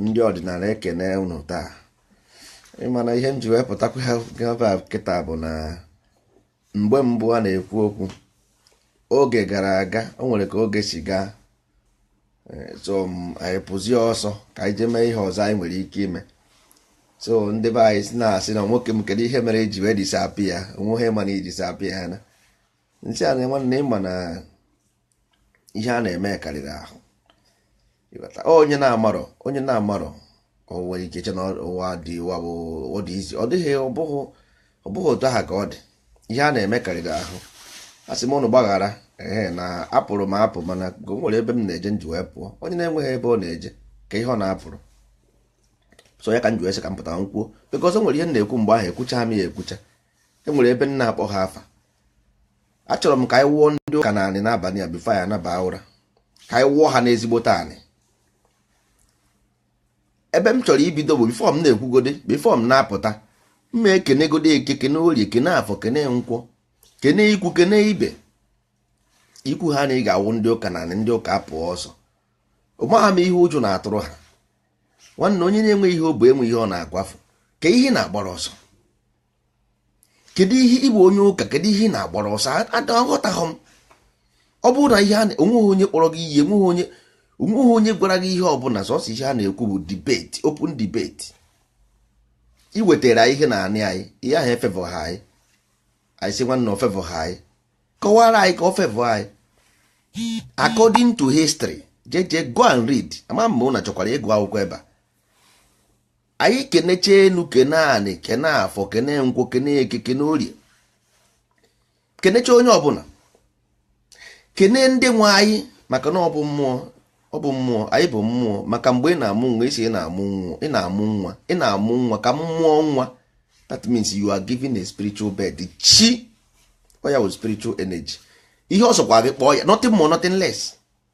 ndị ọdịnala ekene unu taa ị ma na ihe m ji wee pụtakwa ha gaba kịta bụ na mgbe mbụ a na-ekwu okwu oge gara aga o nwere ka oge si gaa eh, so m- anyị pụzie ọsọ ka anyị jee mee ihe ọzọ anyị nwere ike ime so ndị be anyị si na-asị na nwoke m kedu ihe mere i ji wee disappear onweghị ma na i disappear ha na m sị ha na nwanne ị ma na ihe a na-eme karịrị ahụ onye na-amarọ onye na-amarọ o nwere ike che na ụwa dị ụwa bụ ọ dị easy ọ dịghị ọ bụghị otu aha ka ọ dị ihe a na-eme karịrị ahụ a sị m ụnụ gbaghara ee na apụrụ m apụ mana o nwere ebe m na-eje m ji wee pụọ onye na-enweghị ebe ọ na-eje kee ihe ọ na-apụrụ so ya ka m ji wee sị ka m pụta m kwuo because o nwere ihe m na-ekwu mgbe ahụ ekwucha m ya ekwucha e nwere ebe m na-akpọ ha afa achọrọ m ka anyị wụọ ndị ụka n'anị n'abalị a before anyị anaba ụra ka anyị wụọ ha n'ezigbote anị ebe m chọrọ ibido bụ before m na-ekwugode before m na-apụta m ma-ekenegode eke kene orie kene afọ kene nkwọ kene ikwu kene ibe i kwuo na ị ga-awụ ndị ụka n'anị ndị ụka apụọ ọsọ amaha m ihe ụjọ na-atụrụ ha nwanne onye na-enwe ihe o bu enwe ihe ọ na-akwafu kee ihe ị na-agbara ọsọ kedu ihe ị bụ onye ụka kedu ihe ị na-agbara ọsọ aghọtaghị m ọ bụrụ na ihe a onweghị onye kpọrọ gị iyi enweghị onye onweghị onye gwara gị ihe ọbụla sọsọ ihe a na-ekwu bụ debate open debate ị wetara ihe na anị anyị ihe ahụ efavourha anyị anyị sị nwanne o favourha anyị kọwara anyị ka o favour anyị according to history jee jee go and read ama m ma ụnụ chọkwara ịgụ akwụkwọ ebe a anyị kenecha enu kene anị kene afọ kene nkwọ kene eke kene orie kenecha onye ọbụla kene ndị nwe anyị maka na ọ bụ mmụọ ọ bụ mmụọ anyị bụ mmụọ maka mgbe ị na-amụ nwa ị sị ị na-amụ nwa ị na-amụ nwa ị na-amụ nwa ka m mụọ nwa that means you are giving a spiritual birth chi ọ ya bụ spiritual energy ihe ọ sọkwa gị kpọọ ya nothing more nothing less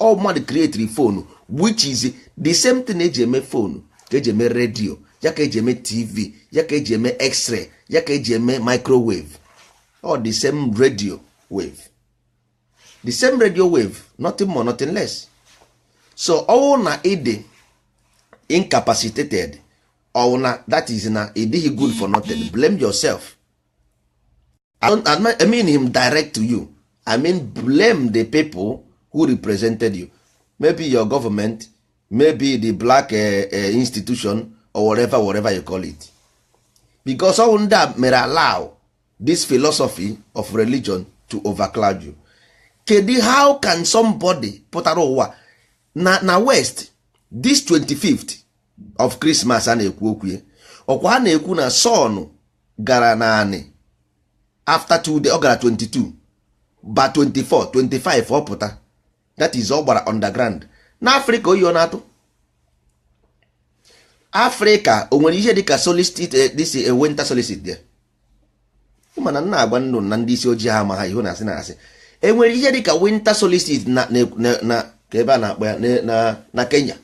ọ mmadụ creatiri phone which is the same thing eji eme phone ka eji eme radio ya ka eji eme tv ya ka eji eme x-ray ya ka eji eme microwave all the same radio wave the same radio wave nothing more nothing less so ọ wụ na ị dị incapacitated ọ wụ na that is na ị dịghị good for nothing blame yourself I mean him direct to you I mean blame the people who represented you maybe your government maybe the black uh, uh, institution or whatever whatever you call it because all ndị a mere allow this philosophy of religion to overcloud you kedu how can somebody pụtara ụwa na na west this 25th of Christmas a na-ekwu okwu ọkwa a na-ekwu na sun gara naanị after two day ọ gara 22 ba 24 25 ọ pụta that is ọ gbara underground na afrịka oyi ọ na-atụ afrịka o nwere ihe dịka solstice eh, this eh, winter solstice there mana m na-agwa ndị na ndị isi ojii amaha ihu na asị na asị enwere ihe dịka winter solstice na na- na- na ka ebe a na-akpọ ya na- na- na kenya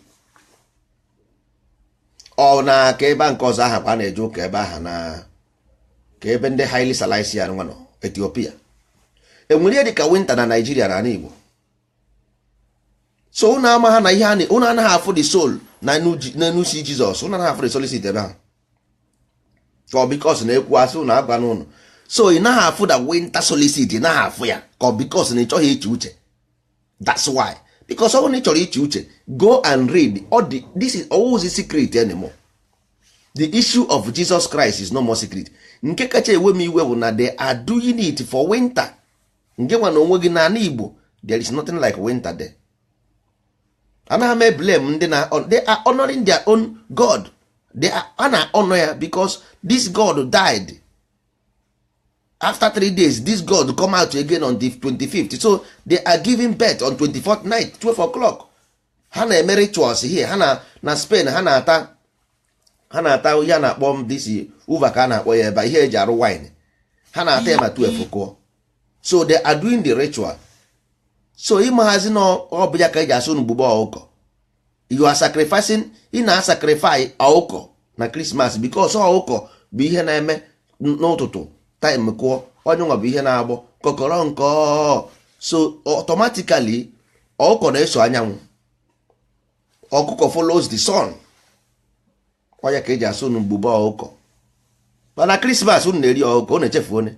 ọ na ka ebe nke ọzọ aha kwa na-eje ụka ebe aha na ka ebe ndị haile selassie nwa nọ etiopia enwere ihe dịka winter na naijiria na ala igbo so ụnụ amaha na ihe ụnụ anaghị afụ the soul na n'enu si jizọs ụnụ anaghị afụ the solstice ebe aha ọ because na-ekwu asị ụnụ agwa n'ụnụ so ị naghị afụ the winter solstice ị naghị afụ ya ka ọ because na ị chọghị iche uche that's why because ọ bụrụ na ị chọrọ iche uche go and read all the, this ọ wụzi secret anymore the issue of Jesus Christ is no more secret nke kacha ewe m iwe bụ na they are doing it for winter nke nwa na o nweghị n'ala Igbo there is nothing like winter there anaghị m eblame ndị na they are honoring their own God they are a na-ahonor ya because this God died after three days this god come out again on the 25th so they are giving birth on 24th night 12 o'clock ha na-eme rituals here ha na na spain ha na-ata ha na-ata ihe a na-akpọ em this uva ka a na-akpọ ya ebe ihe eji arụ wine ha na-ata ya ma 12 kụọ so they are doing the ritual so ị maghazi na ọ bụ ya ka eji asị unu gbube ọkụkọ you are sacrificing ị na-asacrifice ọkụkọ na krismas because ọkụkọ bụ ihe na-eme n'ụtụtụ time kụọ ọ ya nwa bụ ihe na-agbọ kọkọrọ nkọ so automatically ọkụkọ na-eso anyanwụ ọkụkọ follows the sun ọ ya ka eji asị unu gbube ọkụkọ mana krismas unu na-eri ọkụkọ unu echefuo na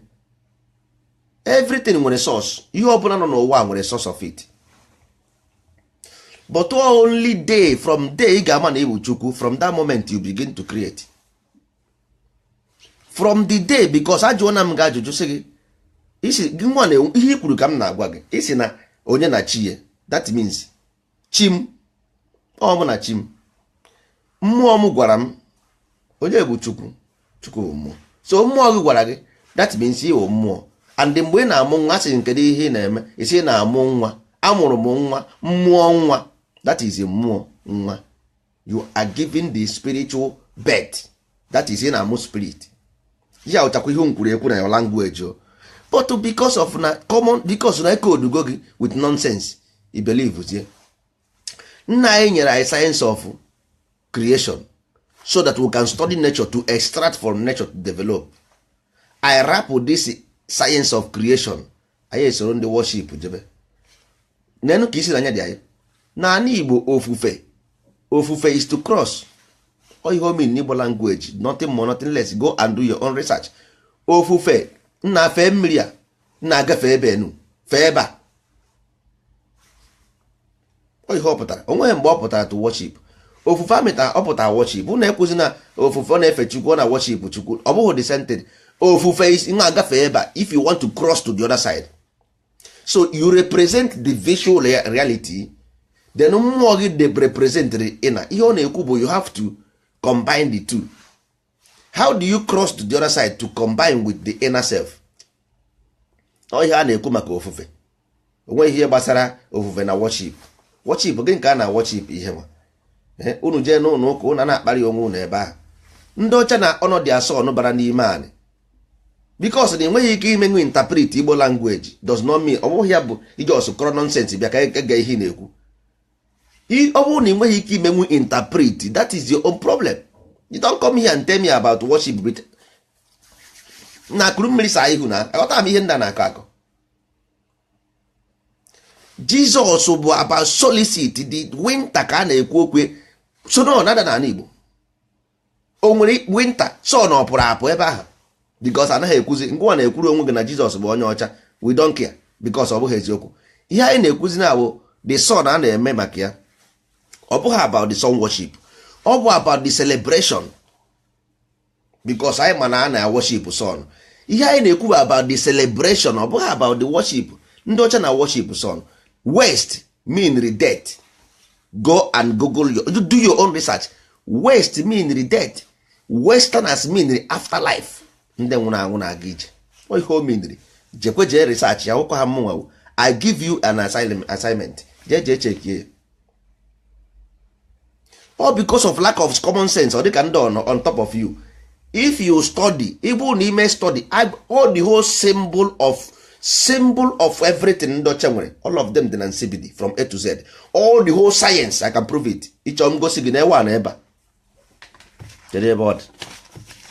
everything nwere source ihe ọbụla nọ n'ụwa nwere source of it but only day from day ị ga-ama na ị wụ chukwu from that moment you begin to create from the day because ajụọna m gị ajụjụ sị gị isi gị nwa na ihe i kwuru ka m na-agwa gị ị sị na onye na chi ya that means chi m ọ mụ na chi m mmụọ m gwara m onye bụ chukwu chukwu bụ mmụọ so mmụọ gị gwara gị that means ị wụ mmụọ and mgbe ị na-amụ nwa sị kedụ ihe ị na-eme ị sị na-amụ nwa amụrụ m nwa mmụọ nwa that is mmụọ nwa you are giving the spiritual birth that is ị na-amụ spirit ya ụchakwa ihe nkwuru ekwu na your language o but because of na common because na e codego gị with nonsense ị believezie nna anyị nyere anyị science of creation so that we can study nature to extract from nature to develop ị rapụ this science of creation anyị esoro ndị worship jebe neenụ ka isi na anya dị anyị n'anị igbo ofufe ofufe is to cross ihe o mean n'igbo language nothing more nothing less go and do your own research ofufe nna fee mmiri a na-agafe ebe enu fee ebe a ihe ọ pụtara onweghị mgbe ọ pụtara to worship ofufe amịta ọ pụtara worship unu ekwuzi na ofufe ọ na-efe chukwu ọ na-worship chukwu ọ bụghị the same thing ofufe is nwa agafe ebe a if you want to cross to the other side so you represent the visual reality then mmụọ gị dey represent inner ihe ọ na-ekwu bụ you have to combine the two how do you cross to the other side to combine with the inner self ọ ihe a na-ekwu maka ofufe onweghị ihe gbasara ofufe na worship worship gị nke a na worship ihe nwa eh, unu jee n'ụlọ ụka unu na-akparị onwe unu ebe ahụ ndị ọcha na ọnọdụ asọ ọnụ bara n'ime anyị because na ị nweghị ike imenwu interpret igbo language does not mean ọ bụghị ya bụ ị just kọrọ nonsense bịa ka e gee ihe na-ekwu ọ bụrụ na ị nweghị ike imenwu interpret that is your own problem you don't come here and tell me about worship nna kuru mmiri saa ihu na aghọta m ihe ndị a na-akọ akọ jesus bụ about solstice the winter ka a na-ekwu okwu ya sun ọ na-ada n'anị igbo o nwere winter sun ọ pụrụ apụ ebe ahụ because anaghị ekwuzi ngịnwa na-ekwuru onwe gị na jesus bụ onye ọcha we don't care because ọ bụghị eziokwu ihe anyị na-ekwuzi na bụ the sun a na-eme maka ya ọ bụghị about the sun worship ọ bụ about the celebration because anyị ma na a na-worship sun ihe anyị na-ekwu about the celebration ọ bụghị about the worship ndị ọcha na-worship sun west meanri death go and google your, do your own research west meanri death westerners meanri afterlife ndị nwụrụ anwụ na-aga ije ihe o meanri jekwe jee research ya ụkọ ha mụnwa i give you an assignment jee jee checkie all because of lack of common sense ọ dịka ndị on top of you if you study ịbụ na ime study all the whole symbol of everything ndị ọcha nwere all of them dị na nsibidi from a to z all the whole science i can prove it ị chọọ m gosi gị na ewe a na ebe a kedu ebe ọ dị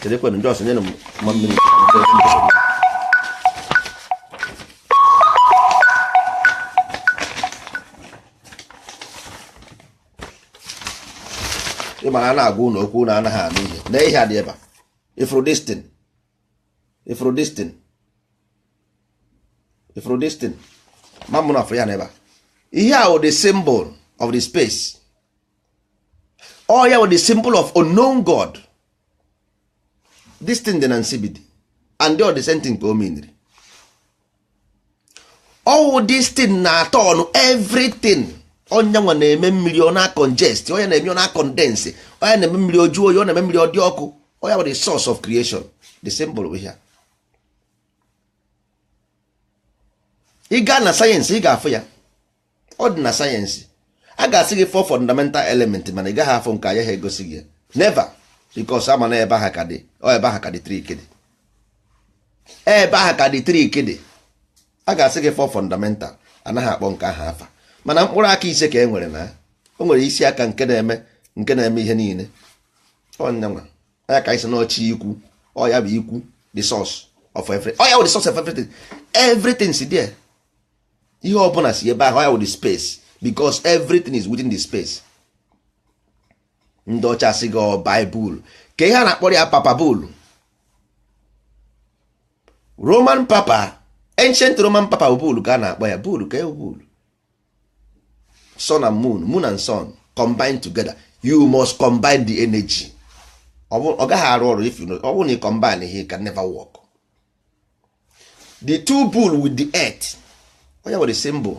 kedu ekwenụ just nyenụ m one minute ị mara a na-agwa unu okwu na anaghị anụ ihe na ihe a dị ebe a ị fụrụ this thing ị fụrụ this thing ị fụrụ this thing ma mụ na-afụ ya na ebe a ihe a wụ the symbol of the space ọ ya wụ the symbol of unknown god this thing dị na nsibidi and ọ the same thing ka o meniri ọ wụ this thing na-aturn everything ọ ya nwa na-eme mmiri ọ na-congest ọ ya na-eme ọ na-condense ọ ya na-eme mmiri o juo oyi ọ na-eme mmiri ọ dị ọkụ ọ ya bụ the source of creation the symbol bụ ihe a ị gaa na sayensị ị ga-afụ ya ọ dị na sayensị a ga-asị gị four fundamental element mana ị gaghị afụ nke anya ha egosi gị never because a ma na ebe ahụ ka the ọ ebe ahụ ka the trick dị ebe ahụ ka the trick dị a ga-asị gị four fundamental anaghị akpọ nke ahụ afa mana mkpụrụ aka ise ka e nwere na o nwere isi aka nke na-eme nke na-eme ihe niile ọ ya nwa ya ka a sị n'ọ chi ukwu ọ ya bụ ukwu the source of everything ọ ya bụ the source of everything everything si there ihe ọbụla si ebe ahụ ya wụ the space because everything is within the space ndị ọcha sị gị ọ baịbụl ka ihe a na-akpọrọ ya papal bull roman papal ancient roman papal bull ka a na-akpọ ya bull ka bull sun and moon moon and sun combine together you must combine the energy ọ gaghị arụ ọrụ if you no ọ bụrụ na ị combineghị it can never work the two bull with the earth ọ ya nwere symbol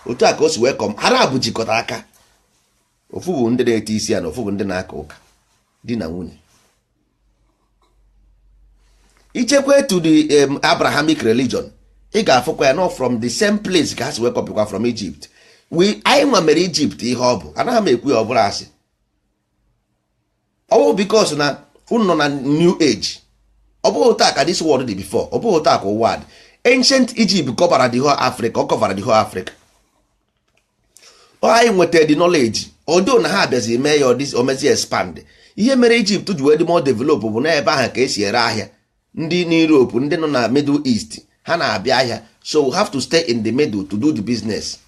otu a ka o si wee come ha naabọ jikọta aka ofu bụ ndị na-eti isi ana ofu bụ ndị na-aka ụka di na nwunye i jekwaa to the um, abrahamic religion ị ga-afụkwa ya n'ọ from the same place ka ha si wee kọpịkwa from egypt we anyị nwa mere egypt ihe ọ bụ anaghị m ekwu ya ọ bụrụ asị ọ bụ because na unu nọ na new age ọ bụghị taa ka this world dị before ọ bụghị taa ka ụwa dị ancient Egypt kọbara the whole Africa ọ kọbara the whole Africa anyị nweta the knowledge although na ha abịazi mee ya o mezi expand ihe mere Egypt ji wee dị more develop bụ na ebe ahụ ka e si ere ahịa ndị n'Europe ndị nọ na Middle East ha na-abịa ahịa so we have to stay in the middle to do the business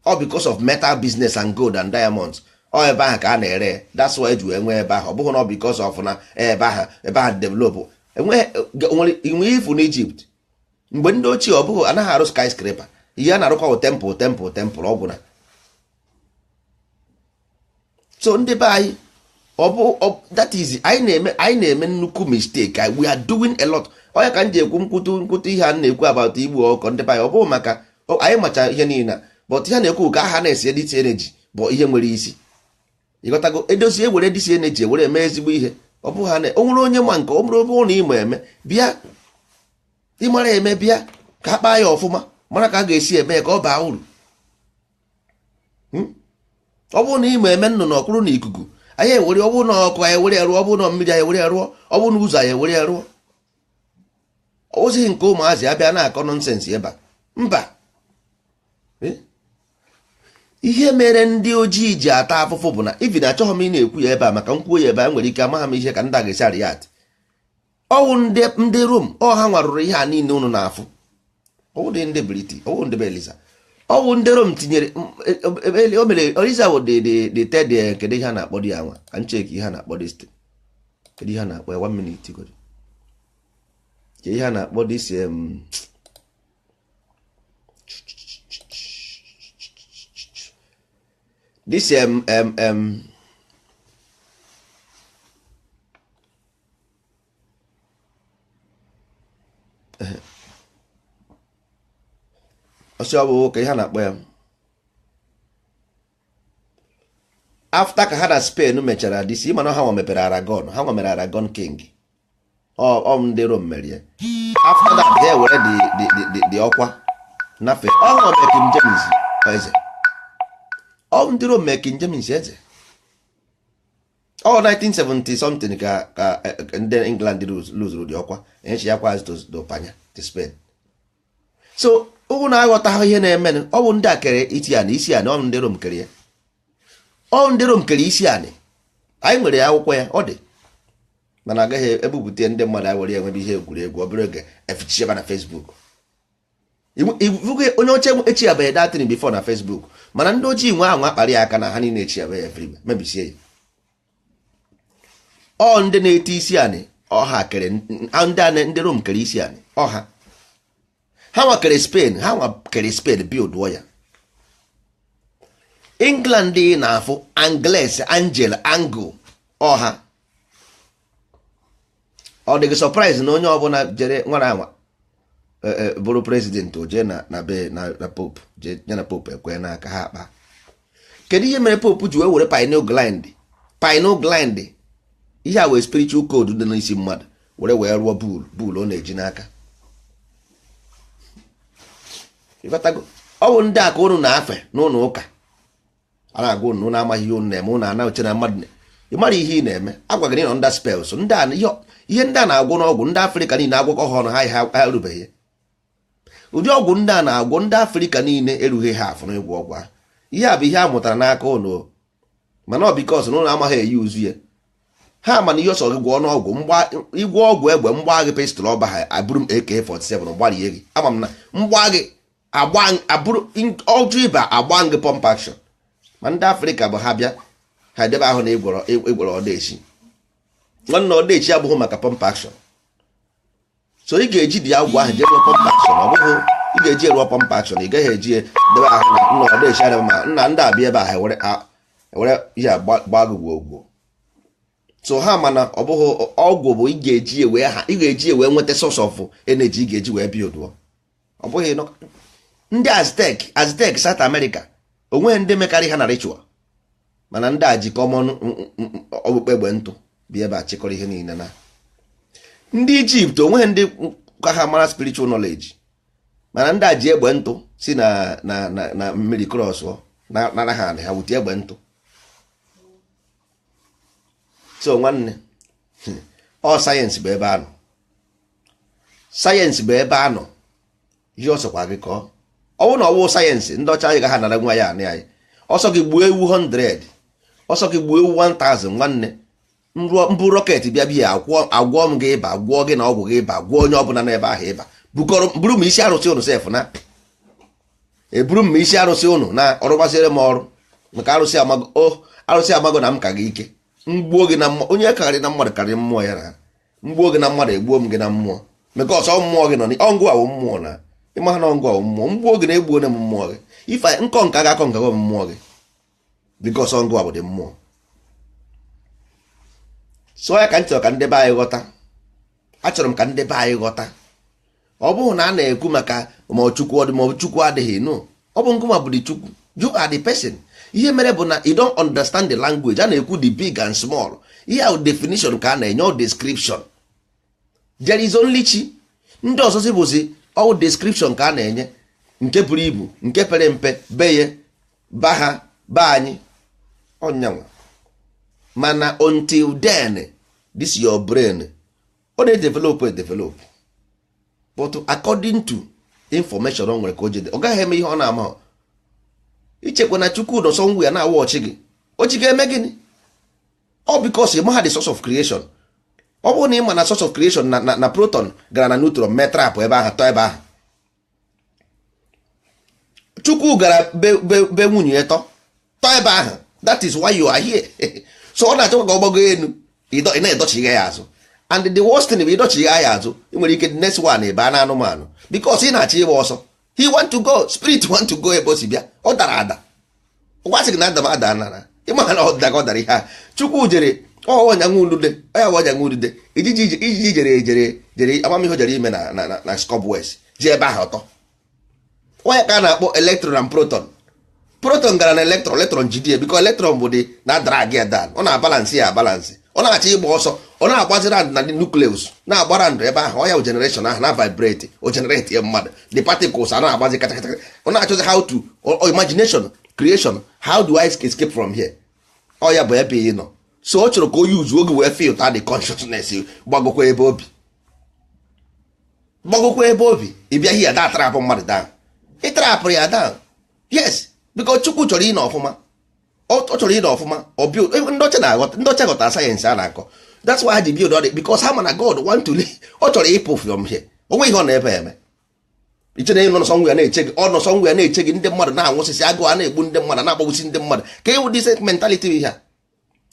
all because of metal business and gold and diamonds ọ ebe ahụ ka a na-ere that's why e ji enwe ebe ahụ ọ bụghị na ọ because of na ebe ahụ ebe ahụ develop enwe ifu n'Egypt mgbe ndị ochie ọ bụghị anaghị arụ skyscraper ihe a na-arụkwa bụ temple temple temple ọ gwụna so ndị be anyị ọ bụ that is anyị na-eme anyị na-eme nnukwu mistake we are doing a lot ọ ya ka m ji ekwu nkwutu nkwutu ihe a na-ekwu about igbu ọkụkọ ndị be anyị ọ bụghị maka anyị macha ihe niile but ihe na-ekwu ka ha na-esi edit energy bụ ihe nwere isi ịghọtago edozi ewere this energy ewere eme ezigbo ihe ọ bụghị ha na o nwere onye ma nke ọ bụrụ na ị ma eme bịa ị mara eme bịa ka a kpaa ya ọfụma mara ka a ga-esi eme ya ka ọ baa uru hmm? ọ bụrụ na ị ma eme nnụnụ ọ kwụrụ na ikuku anyị ewere ọ bụrụ na ọkụ anyị ewere rụọ ọ bụrụ na mmiri anyị ewere rụọ ọ bụrụ na ụzọ anyị ewere rụọ ọ bụzighị nke ụmụazị abịa na-akọ nonsense ebe a mba eh? ihe mere ndị ojii ji ata afụfụ bụ na even achọghị m ịna-ekwu ya ebe a maka m kwuo ya ebe a nwere ike amaghị m ihe ka ndị a ga-esi react ọ wụ ndị ndị Rom ọ ha nwa rụrụ ihe a niile unu na-afụ ọ wụ dị ndị British ọ wụ ndị be Eliza ọ wụ ndị Rom tinyere m, e, e, e, o mere Eliza wụ the the the third eh, kedu ihe a na-akpọ di ya nwa ka m check ihe a na-akpọ dị sti kedu ihe a na-akpọ ya one minute godu kedu ihe a na-akpọ this em, this em em em ọsị ọ bụ ka ihe a na-akpọ ya after ka ha na Spain mechara this ị ma na ha nwa mebere Aragon ha nwa mere Aragon king ọ ndị Rom mere ya after that ha ewere the ọkwa nafe ọ nwa mere King James eze ọ ndị Rom mere King James eze ọ 1970 something ka ka eh, ndị England luzuru the ọkwa enyechi ya kwa azụ to Panya to Spain so unu na-aghọta ihe na-eme ọ bụ ndị a kere iti anị isi anị ọ ndị Rom kere ya ọ ndị Rom kere isi anị anyị nwere ya akwụkwọ ya ọ dị mana agaghị ebupụta ndị mmadụ anyị were ya mebe ihe egwuregwu ọ bụrụ oge efichicheba na Facebook onye ọcha esharebeghị that thing before na Facebook mana ndị ojii nwe ahụ akpara ya aka na ha niile esharebe everywhere mebisie ya ọ ndị na-eti isi anị ọ ha kere ndị Rom kere isi anị ọ ha ha nwa kere Spain ha nwa kere Spain build ya England na-afụ Angles Angel Angle ọ ha ọ dịghị surprise na onye ọbụla jere nwara anwa e, e, bụrụ president o jee na be na Pope jee na Pope ekwe n'aka ha akpa kedu ihe mere Pope ji wee were pineal gland pineal gland ihe a wụ spiritual code dị n'isi mmadụ were wee rụọ bull bull ọ na-eji n'aka ọ bụ ndị a ka ụnụ na-afe n'ụlọ ụka a na-agwa unu na amaghị ihe unu na-eme unu ana-eche na mmadụ ịmara ihe ị na-eme agwa gị na ịnọ ndị special ndị a ihe ihe ndị a na-agwọ n'ọgwụ ndị afrịka niile agwọkọ ha ọnụ ha ha ha erubeghị ya. ụdị ọgwụ ndị a na-agwọ ndị afrịka niile erughị half n'ịgwọ ọgwụ ahụ ihe a bụ ihe a mụtara n'aka unu o. mana ọ because na unu amaghị e-use ya ha mana ihe ọ sọ gị gwọọ n'ọgwụ m gbaa ị gwọọ ọgwụ egbe m gbaa gị pistol ọ baha eburu m AK47 gbarie gị ama m na m gbaa gị ọ jụ ịba agbaa m gị pump action ma ndị afrịka bụ ha bịa ha edebe ahụ na ị gwọrọ ị gwọrọ odeshi nwanne odeshi abụghị maka pump action so ị ga-eji ụdị ọgwụ ahụ jee rụọ pump action ọ bụghị ị ga-eji rụọ pump action ị gaghị eji debe ahụ na nna odeshi adịghị mana ndị a bịa ebe ahụ ewere ihe gbaa gị gwogwo so ha mana ọ bụghị ọgwụ bụ ị ga-eji wee ha ị ga-eji wee nweta source of energy ị ga-eji wee buildụọ ọ bụghị ndị aztec aztec south america onweghị ndị mekarị ha na ritual mana ndị a ji common okpukpe egbe ntụ bịa ebe a chịkọrọ ihe niile na ndị ijipt onweghị ndị ka ha mara spiritual knowledge mana ndị a ji egbe ntụ si na na na mmiri cross nara ha ha wute egbe ntụ so nwanne ọ sayensị bụ ebe a nọ sayensị bụ ebe a nọ ihe ọ sọkwa gị kọọ ọ wụ na ọ wụ sayensị ndị ọcha agaha anara anyị anị anyị ọ sọ gị gbuo ewu 100 ọ sọ gị gbuo ewu 1000 nwanne m bu rocket bịa bịa agwọ m gị ịba gwọọ gị na ọgwụ gị ịba gwọọ onye ọbụla n'ebe ahụ ịba buru m isi arụsị unu sef na eburu m isi arụsị unu na ọ rụbaziri m ọrụ maka arụsị amago oh, arụsị amago na m ka gị ike m gbuo gị na onye karịrị na mmadụ karịrị mmụọ ya na m gbuo gị na mmadụ egbuo m gị na mmụọ because mmụọ gị nọ ọ ngịwa wụ mmụọ na ị maha na ọ ngịwa wụ mmụọ m gbuo gị na egbuona m mmụọ gị if m conquer gị a-conquergo m mmụọ gị because ọ ngịwa wụ the mmụọ so ya ka m chọrọ ka ndị be anyị ghọta achọrọ m ka ndị be anyị ghọta ọ bụghị na a na-ekwu maka ma chukwu ọ dị ma chukwu adịghị no ọ bụ ngịwa bụ the chukwu you are the person ihe mere bụ na you don't understand the language a na-ekwu the big and small ihe ahụ definition ka a na-enye ọ description there is only chi ndị ọzọzi bụzi ọ wụ description ka a na-enye nke buru ibu nke pere mpe beye ba ha ba anyị ọnyanwa mana until then this your brain ọ na-edevelopụ edevelopụ but according to information o nwere ka o jede ọ gaghị eme ihe ọ na-ama i chekwa na chukwu nọ somewhere na-awatchị gị o ji ga-eme gịnị ọ because ị maha the source of creation ọ bụrụ na ị ma na source of creation na proton gara na neutron mee trap ebe ahụ tọọ ebe ahụ chukwu gara be nwunye ya tọ tọ ebe ahụ that is why you are here so ọ na-achọkwa ka ọ gbago elu ị na-adọchigha ya azụ and the worst thing bụ ịdọchigha ya azụ i nwere ike the next one ị bịa na anụmanụ because ị na-achọ ịgba ọsọ he want to go spirit want to go ebe o si bịa ọ dara ada gwasị gị na adam ada nara ịma na ọ daga ọ dara ihe a chukwu jere ọnya nwudude ọ ya bụ ọnya nwudude ijiji ijiji jere jere jere amamihe jere ime na na na cobwebs jee ebe ahụ tọ ọ ya ka a na-akpọ electron and proton proton gara na electron electron jidie because electron bụ dị na drag ya down ọ na-abalansị ya abalansị ọ na-achọ ịgba ọsọ ọ na-agbazi round na nucleus na-agba round ebe ahụ ọ ya generation ahụ na vibrate o generate ya mmadụ the particles a na-agbazi kata kata ọ na-achọzi how to imagination creation how do I escape from here ọ ya bụ ebe ị nọ so ọ chọrọ ka o use oge wee feel the consciousness gbagokwa ebe o bi gbagokwa ebe o bi ị bịa here da trapụ mmadụ down ị trapụrụ ya down yes because chukwu chọrọ ịnọ ọfụma ọ chọrọ ịnọ ọfụma ndị ọcha na-aghọta ndị ọcha ghọtara sayensị a na-akọ that's why ha ji build all this because ha ma na God want to leave ọ chọrọ ịpụ from here o nwe ihe ọ na-ebe eme i che na ọ nọ somewhere na-eche gị ọ nọ somewhere na-eche gị ndị mmadụ na-anwụsịsị agụụ a na-egbu ndị mmadụ na-agbagbusi ndị mmadụ ka ịwụ the mentality bụ ihe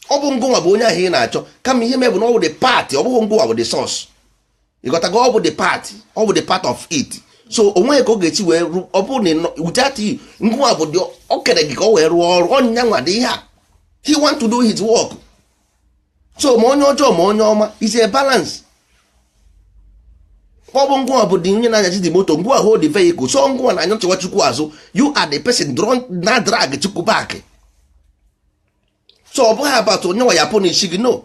ọ bụ ngụnwa bụ onye ahụ ị na-achọ kama ihe me bụ na ọ bụ the part ọ bụghị ngụnwa bụ the source ị ghọtago ọ bụ the part ọ bụ the part of it so o nweghị ka ọ ga-esi wee rụ ọ bụrụ na without ngụnwa bụ dị o kere gị ka ọ wee rụọ ọrụ ọ ya nwa dị ihe a he want to do his work so ma onye ọjọọ ma onye ọma is a balance ọ bụ ngụnwa bụ dị onye na-anyazi the moto ngụnwa hold the vehicle so ngụnwa na-anyachigha chukwu azụ you are the person na drag chukwu back so ọ bụghị about onye nwa ya punish gị no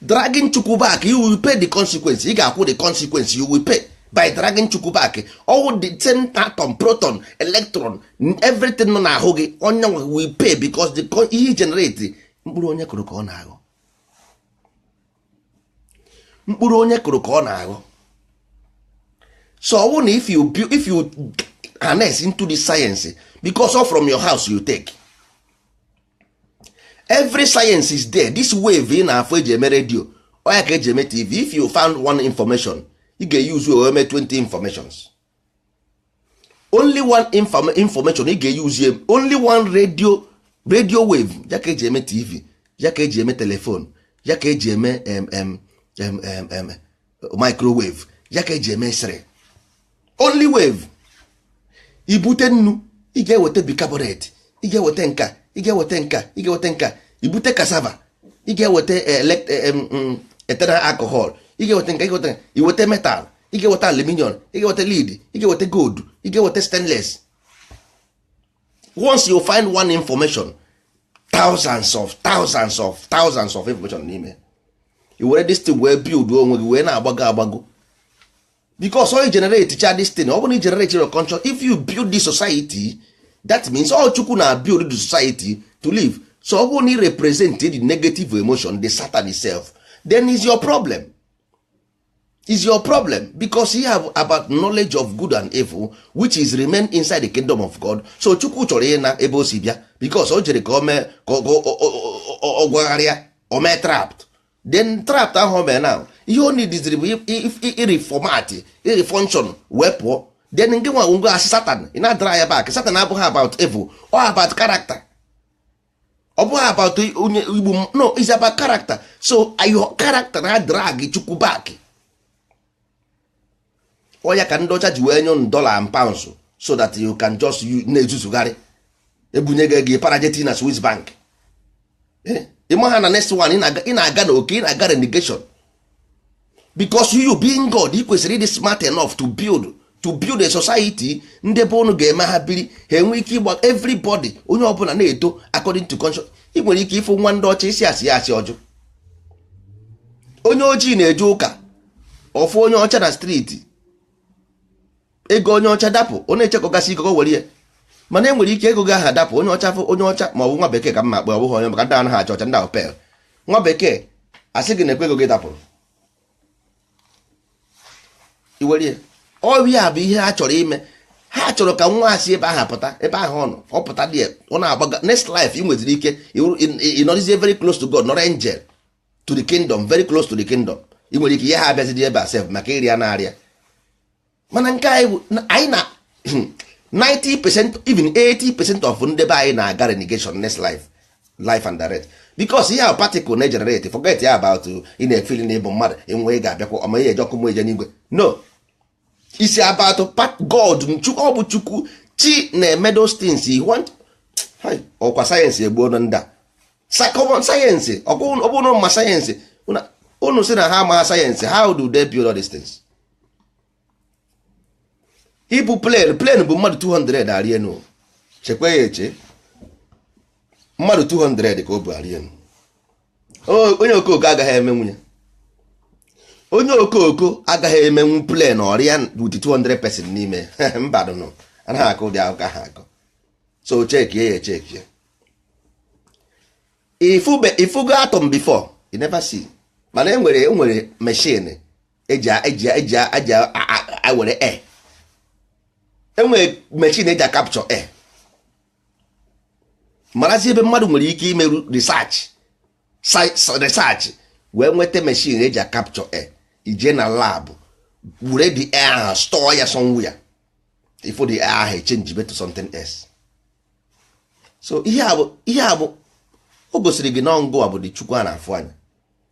dragging chukwu back you will pay the consequence ị ga-akwụ the consequence you will pay by dragging chukwu back ọ wụ the same atom proton electron everything nọ n'ahụ gị onye nwa will pay because the co- ihe generate mkpụrụ onye kụrụ ka ọ na-aghọ mkpụrụ onye kụrụ ka ọ na-aghọ so ọ wụ na if you bu- if you harness into the science because all from your house you take every science is there this wave ị na-afụ e ji eme redio ọ ya ka e ji eme tv if you found one information ị ga-eyuzu wee mee 20 informations only one inform information ị ga-eyuzu only one radio radio wave ya ka e ji eme tv ya ka e ji eme telefon ya ka e ji eme microwave ya ka e ji eme x-ray only wave i bute nnu ị ga-eweta bicarbonate ị ga-eweta nka ị ga-eweta nka ị ga-eweta nka i bute cassava ị ga-eweta eh, eh, mm, mm, ethanol alcohol ị ga-eweta nka ị ga-eweta i weta metal ị ga-eweta aluminium ị ga-eweta lead ị ga-eweta gold ị ga-eweta stainless once you find one information thousands of thousands of thousands of information n'ime i were this thing wee build onwe gị wee na-agbago agbago because all you generate cha this thing ọ bụrụ na i generate your conscious if you build the society that means ọ chukwu na build the society to live so ọ bụrụ na i represent the negative emotion the satan itself then is your problem is your problem because you have about knowledge of good and evil which is remain inside the kingdom of God so chukwu chọrọ ịna ebe o si bịa because o jere ka o mee ka ọ gwagharịa o mee trapped then trapped ahụ o mee na ihe ọ needịziri bụ i-reformat i-refunction wee pụọ then nke nwa ngwa asị satan ị na-adrag ya back satan abụghị about evil or about character ọ bụghị about onye igbo no is about character so your character na-adrag chukwu back ọ ya ka ndị ọcha ji wee nye unu dollar and pounds so that you can just na-ezuzugharị e bunye gị ego ị para je tii na Swiss bank eh? ị maha na next one ị na-aga na oke ị na-aga relegation because you being God ị kwesịrị ịdị smart enough to build to build a society ndị be unu ga-eme ha biri ha enwe ike ịgba everybody onye ọbụla na-eto according to conscious ị nwere ike ịfụ nwa ndị ọcha ị sị ha sịa asị ọ jụ onye ojii na-eje ụka ọ fụ onye ọcha na street ego onye ọcha dapụ ọ na-echekọgasị ego were ya mana e nwere ike ego gị aha dapụ onye ọcha fụ onye ọcha ma ọ bụ nwa bekee ka mma akpọ ọ bụghị onye maka ndị anaghị achọ ọcha ndị ahụ pel nwa bekee asị gị nekwe ego gị dapụrụ i were ya ọ ya bụ ihe ha chọrọ ime ha chọrọ ka wa si ebe ahụ pụta ebe ahụ ọ nọ ọ pụta dị ọ na-agbaga next life ị nweziri ike ịnọrịzie very close to God nọrọ angel to the kingdom very close to the kingdom ị nwere ike ihe ha abịazidi ebe a sef maka ịrịa na-arịa mana nke anyị bụ anyị na 90 percent even 80 percent of ndị be anyị na-aga relegation next life life and direct because ihe ahụ particle na-egenerate forget ya about ị na-efili na ị bụ mmadụ enwe ga-abịakwa ọma ihe eje ọkụ mmụọ eje n'igwe no is about God chukwu ọ bụ chukwu chi na-eme those things you want ọ kwa science egbuona ndị a common science ọ bụrụ ma science unu sị na ha amaghị science how do they build all these things ibu plane plane bu mmadụ 200 arị enu chekwa ya eche mmadụ 200 ka o bu arị enu onye okooko agaghị emenwu ya onye okooko agaghị emenwu plane ọ rịa with 200 person n'ime mbanụ anaghị akọ ụdị akụkọ a akọ so chekie ya echekie ị fụgo atom before you never see mana enwere enwere machine eji eji eji eji were air enwere machine eji acapture air marazi ebe mmadụ nwere ike imeru research research wee nweta machine eji acapture air i je na lab were the air ahụ store ya somewhere ị fụ the air ahụ echenjibe to something else so ihe a bụ ihe a bụ o gosiri gị na ọ ngịwa bụ the chukwu a na-afụ anya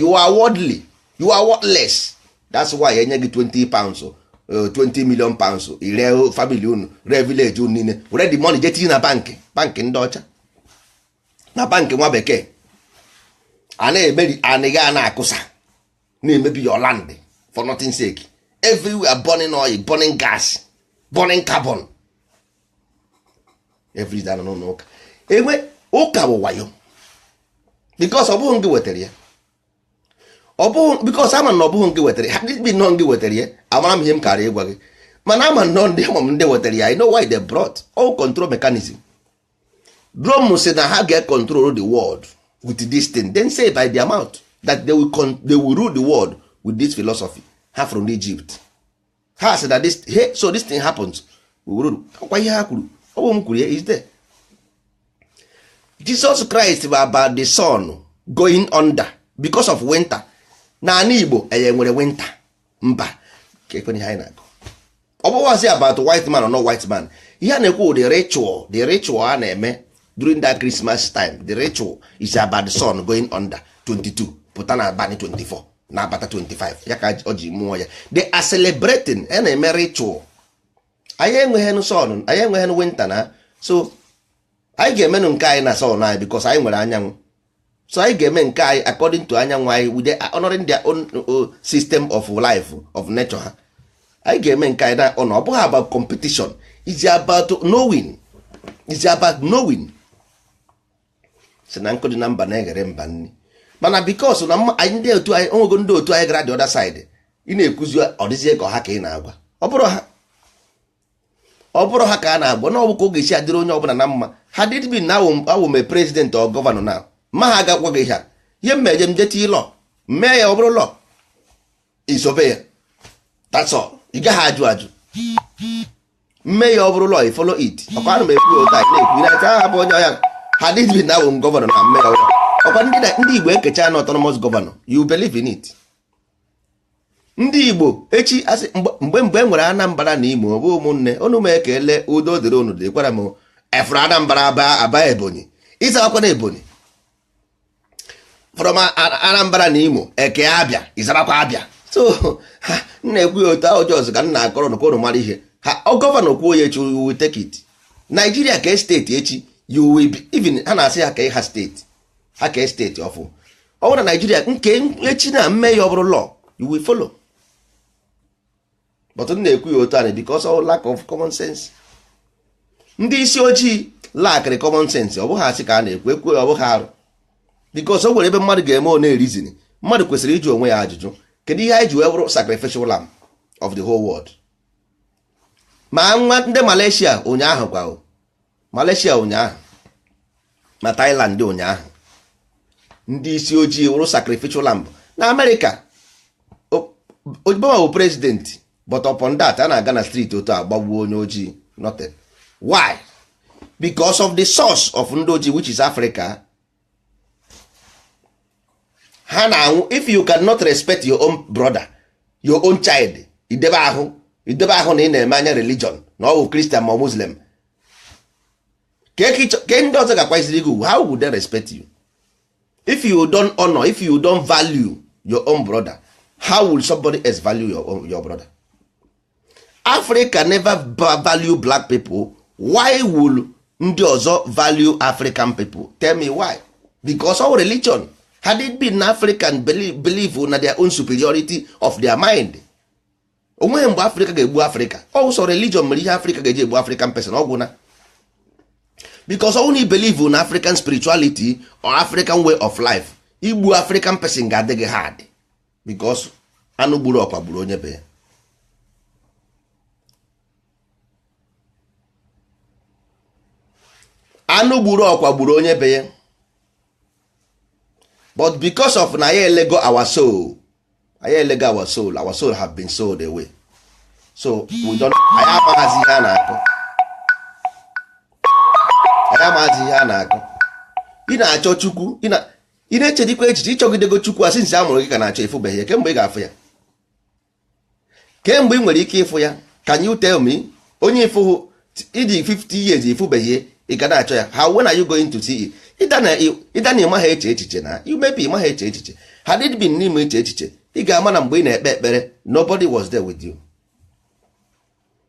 you are worldly you are worthless that's why enye gị 20 pounds 20 uh, million pounds i ree family unu ree village unu niile were the money je tinye na bank bank ndị ọcha na bank nwa bekee a na-emeri anị gị a na-akụsa na-emebi your land for nothing sake everywhere burning oil burning gas burning carbon everyday a nọ n'ụlọ ụka enwe ụka bụ wayo because ọ bụghị ngị wetara ya ọ bụghị because ama m na ọ bụghị ngị wetara ya had it been ọ ngị wetara ya amara m ihe m kara ịgwa gị mana ama nọ ndị ama m ndị wetara ya i know why they brought all control mechanism Rome sị na ha ga-control the world with this thing they say by their mouth that they will, con they will rule the world with this philosophy ha from Egypt ha sị na this hey, so this thing happens we rule ọ kwa ihe ha kwuru ọ bụ m kwuru ya it's there Jesus Christ bụ about the sun going under because of winter n'anị Igbo anyị nwere winter mba ka ekwenye ihe anyị na-akọ ọ bụghịzi about white man or no white man ihe a na-ekwu the ritual the ritual a na-eme during that Christmas time the ritual is about the sun going under 22 pụta na abalị 24 na abata 25 ya ka o ji mụọ ya they are celebrating a na-eme ritual anyị enweghị sun anyị enweghị winter na so anyị ga-emenụ nke anyị na sun anyị because anyị nwere anyanwụ so anyị ga-eme nke anyị according to anyanwụ anyị we dey honoring their own uh, system of life of nature ha anyị ga-eme nke anyị na ọ na ọ bụghị about competition is about knowing is about knowing si na nkụ dị na mba na-eghere mba nri mana because na ndị otu anyị onwego ndị otu anyị gara the other side ị na-ekwuzi ọ dịzie ka ọ ha ka ị na-agwa ọ bụrụ ha ọ bụrụ ha ka a na-agwa na ọ bụ ka ọ ga-esi adịrị onye ọbụla na mma had it been na awụ m president or governor na ma ha agakwa gị ha ihe m meje m jeti law mee ya ọ bụrụ law i sobe ya that's all ị gaghị ajụ ajụ m mee ya ọ bụrụ law ị follow it ọkwa ana m ekwu otu a na-ekwu na aka ha bụ onye ọhịa had it been na awụ m governor na m mee ya ọ bụ law ọkwa ndị igbo ekecha na autonomous governor you believe in it ndị igbo echi asị mgbe mgbe e nwere anambra na imo ọ bụ ụmụnne unu m ekele udo dịrị unu dịkwara m from anambra aba aba ebonyi ị zaakwa na ebonyi from Anambra na Imo e kee abịa ị zarakwa abịa so m na-ekwu ya otu ahụ just ka m na-akọrọ unu ka unu mara ihe ha governor kwuo ya echi we take it Nigeria kee steeti echi you will believe in ha na-asị ha ka ha steeti ha kee steeti ọfụ ọ bụrụ na Nigeria nke echi na mee ya ọ bụrụ law you will follow but m na-ekwu ya otu ahụ because of lack of common sense ndị isi ojii lackịrị common sense ọ bụghị asị ka a na-ekwu ekwu ọ bụghị arụ because o nwere ebe mmadụ ga-eme ọ na-ereason mmadụ kwesịrị ịjụ onwe ya ajụjụ kedu ihe anyị ji wee bụrụ sacrificial lamb of the whole world ma nwa ndị Malaysia ụnyaahụ kwa Malaysia ụnyaahụ ma Thailand ụnyaahụ ndị isi ojii wụrụ sacrificial lamb na America Obama bụ president but upon that a na-aga na street otu a gbagbuo onye ojii nothing why because of the source of ndị ojii which is Africa ha na-anwụ if you cannot respect your own brother your own child ị dị ebe ahụ ị dị ebe ahụ na ị na-eme anya religion na ọ bụ Christian ma Muslim ke ndị ọzọ ga-akwanyesiri gị ugwu how would they respect you if you don honor if you don value your own brother how will somebody else value your, own, your brother africa never value black people why will ndị ọzọ value african people tell me why because of religion had it been african believe, believe na their own superiority of their mind o nweghị mgbe africa ga-egbu africa ọ wụ sọ religion mere ihe africa ga-eji egbu african person ọ gwụna because ọ wụ na ị believe na african spirituality or african way of life igbu african person ga-adị gị hard because anụ gburu ọkwa gburu onye be ya anụ gburu ọkwa gburu onye be ya but because of na anyị elego our soul anyị elego our soul our soul have been sold away so we don't anyị amaghazi ihe a na-akọ anyị amaghazi ihe a na-akọ ị na-achọ chukwu ị na- ị na-echedikwa echiche ị chọgidego chukwu since a mụrụ gị ka ị na-achọ ị fụbeghị ya kee mgbe ị ga-afụ ya kee mgbe ị nwere ike ịfụ ya can you tell me onye ị fụhụ ị dị 50 years ị fụbeghị ya ị ga na-achọ ya how when are you going to see it ịda na ị magha eche echiche na you maybe ị magha eche echiche had it been na ị ma eche echiche ị ga-ama na mgbe ị na-ekpe ekpere nobody was there with you.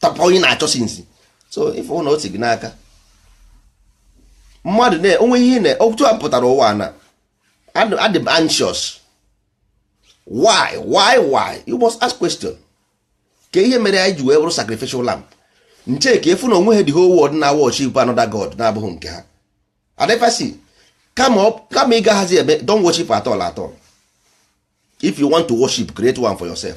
tọpọ onye na-achọ sinzi so ife na o si gị n'aka mmadụ na onwe ihe na otu a pụtara ụwa na adị m anxious why why why you must ask question kee ihe mere anyị ji wee bụrụ sacrificial lamb nche ka ị fụ na onweghị the whole world na-worship another god na-abụghị nke ha adịfasi kama ị gaghazi eme don't worship at all at all if you want to worship create one for yourself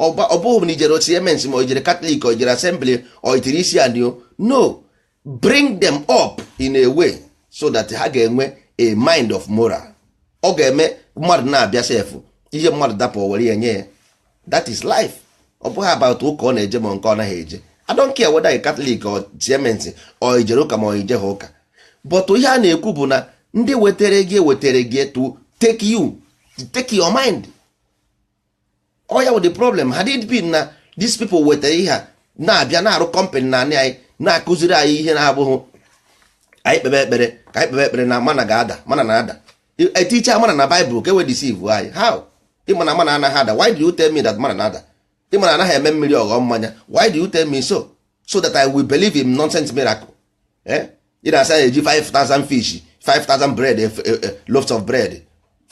ọ bụghị na ijere CMS ma ijere Catholic o ijere Assembly o itiri isi anị o no bring them up in a way so that ha ga-enwe a mind of moral ọ ga-eme mmadụ na-abịa sef ihe mmadụ dapụ were ya nye ya that is life ọ bụghị about ụka ọ na-eje ma nke ọ naghị eje I don't care whether you Catholic or CMS or ijere ụka ma ọ ijeghị ụka but ihe a na-ekwu bụ na ndị wetara gị ewetara gị to take you take your mind ọ ya wụ the problem had it been na these people wetara ihe a na-abịa na-arụ company n'anị anyị na-akụziri anyị ihe na-abụghị anyị kpebe ekpere ka anyị kpebe ekpere na mana ga-ada mana na-ada eticha mana na Bible ka e wee deceive anyị how ị ma na mana anaghị ada why do you tell me that mana na-ada ị ma na a naghị eme mmiri ọ ghọọ mmanya why do you tell me so so that I will believe in nonsense miracle eh? ị na-asị na e ji 5000 fish 5000 bread eh, eh, loaves of bread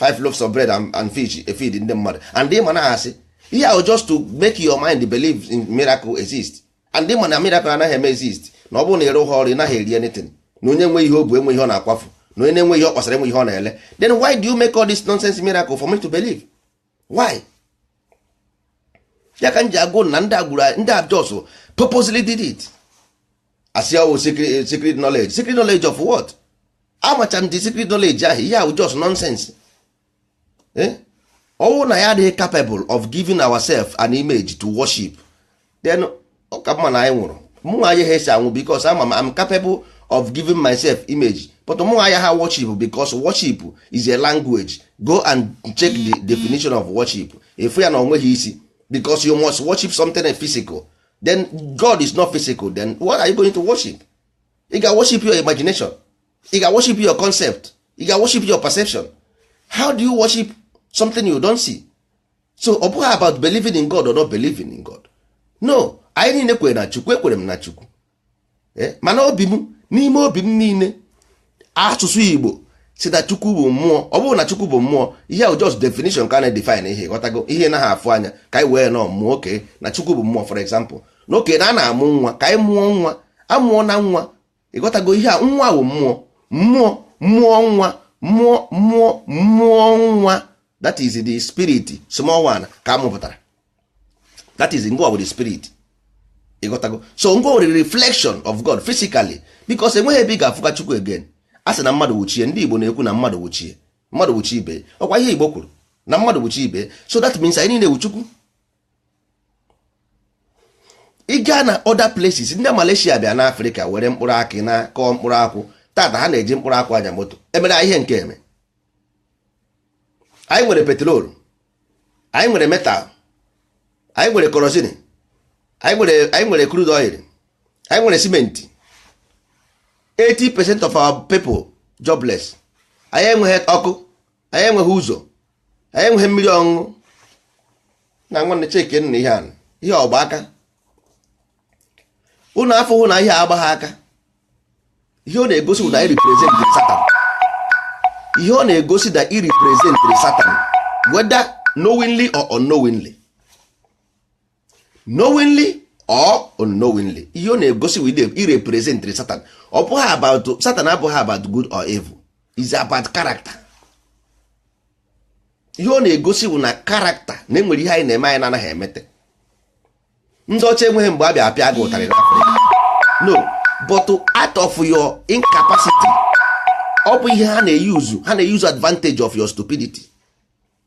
5 loaves of bread and fish efeed ndị mmadụ and ị ma na asị ihe ahụ just to make your mind believe in miracle exist and ị ma na miracle anaghị eme exist na ọ bụrụ na ị rụghị ọrụ ị naghị eri anything na onye nwe ihe o bu enwe ihe ọ na-akwafu na onye na-enwe ihe ọ kpasara enwe ihe ọ na-ele then why do you make all this nonsense miracle for me to believe why ya ka m ji agwa unu na ndị agbụrụ ndị Jews purposely did it a sị ọ wụ oh, secret knowledge secret knowledge of what amacha m the secret knowledge ahụ ihe ahụ just nonsense ọ wụ eh? na anyị adịghị capable of giving ourselves an image to worship then ọ ka mma na anyị nwụrụ mụ nwa ayaha esi anwụ because ama m I'm capable of giving myself image but mụ nwa ayaha worship because worship is a language go and check the definition of worship ị fụ ya na o nweghị isi because you must worship something physical then God is not physical then what are you going to worship ị ga worship your imagination ị ga worship your concept ị ga worship your perception how do you worship something you don't see so ọ bụghị about believing in God or not believing in God no anyị niile kwere na Chukwu ekwere m na Chukwu eh, mana obi m n'ime obi m niile asụsụ Igbo si na Chukwu bụ mmụọ ọ bụrụ na Chukwu bụ mmụọ ihe ahụ just definition ka na-edefine ihe ị ghọtago ihe a naghị afụ anya ka anyị wee na ọ mmụọ oke na Chukwu bụ mmụọ for example na oke na a na-amụ nwa ka anyị mụọ nwa amụọ na nwa ịghọtago ihe a nwa wụ mmụọ mmụọ mmụọ nwa mmụọ mmụọ mmụọ nwa that is the spirit small one ka amụpụtara that is nwa wụ the spirit ịghọtago so nwa wụ the reflection of God physically because enweghị ebe ị ga-afụkwa Chukwu again a sị na mmadụ wụ chi e ndị Igbo na-ekwu na mmadụ wụ chi e mmadụ wụ chi ibe ọkwa ihe Igbo kwuru na mmadụ wụ chi ibe so that means anyị niile wụ Chukwu ị gaa na other places ndị Malaysia bịa na Afrịka were mkpụrụ akị naa kọọ mkpụrụ akwụ tata ha na-eji mkpụrụ akwụ anya moto emere ihe nke eme anyị nwere petrol anyị nwere metal anyị nwere kerosene anyị nwere anyị nwere crude oil anyị nwere cement 80 percent of our people jobless anyị enweghị ọkụ anyị enweghị ụzọ anyị enweghị mmiri ọṅụṅụ na nwanne chekene ihe a nụ ihe ọ gba aka ụnụ afụhụ na ihe agbaghị aka ihe ọ na-egosi na ị represent satan ihe ọ na-egosi na ị represent satan whether knowingly or unknowingly knowingly or unknowingly ihe ọ na-egosi wụ that ị representiri satan ọ bụghị about satan abụghị about good or evil is about character ihe ọ na-egosi bụ na character na enwere ihe anyị na-eme anyị na-anaghị emete ndị ọcha enweghị mgbe a bịa apịa gị ụtarị n'afrịka no but out of your incapacity ọ bụ ihe ha na-euse ha na-euse advantage of your stupidity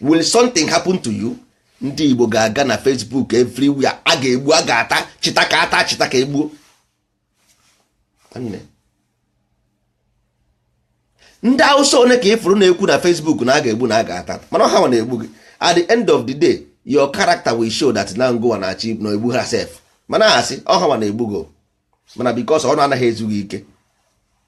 will something happen to you ndị Igbo ga-aga na Facebook everywhere a ga-egbu a ga-ata chịta ka a taa chịta ka e gbuo ndị Hausa one ka ị fụrụ na-ekwu na Facebook na a ga-egbu na a ga-ata mana ọ hanwa na-egbu gị at the end of the day your character will show that na ngụnwa na-achị na-egbu ha sef mana asị ọ hanwa na-egbu gị mana because ọnụ anaghị ezu gị ike